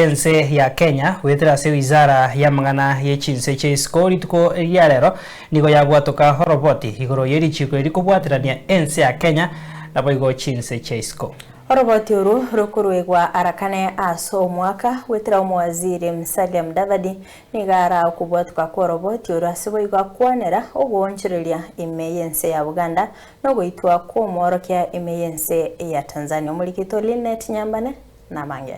y'ense ya Kenya goetera ase Wizara y'amang'ana ye chinse chia isiko rituko riria rero nigo yabwatoka oroboti igoro ye richiiko eri kobwaterania ense ya Kenya naboigo chinse chia isiko. Oroboti oru rokoruegwa arakane ase omwaka goetera Omowaziri Musalia Mudavadi nigo araa okobwatoka kw'oroboti oru ase boigo akwanera ogoonchoreria ime y'ense ya Buganda nogoitwa kw'omworokia ime y'ense ya Tanzania Omorikito Lynette Nyambane nabange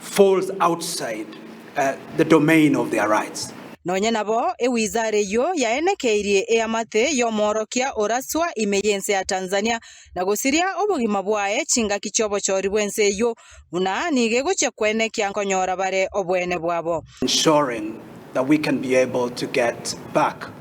falls outside the domain of their rights. Nonye nabo ewizara eyio yaenekeirie eamate y'omoorokia oraswa ime y'ense ya Tanzania na gosiria obogima bwaye chingaki chi'obochori bw'ense eyio, buna nigo egochia koenekia nkonyora bare obweene bwabo.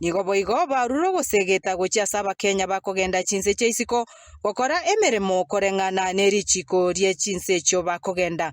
Nigo boigo barure ogosegeta gochia ase Abakenya bakogenda chinse chia isiko gokora emeremo koreng'ana nerichiko rie chinse echio bakogenda.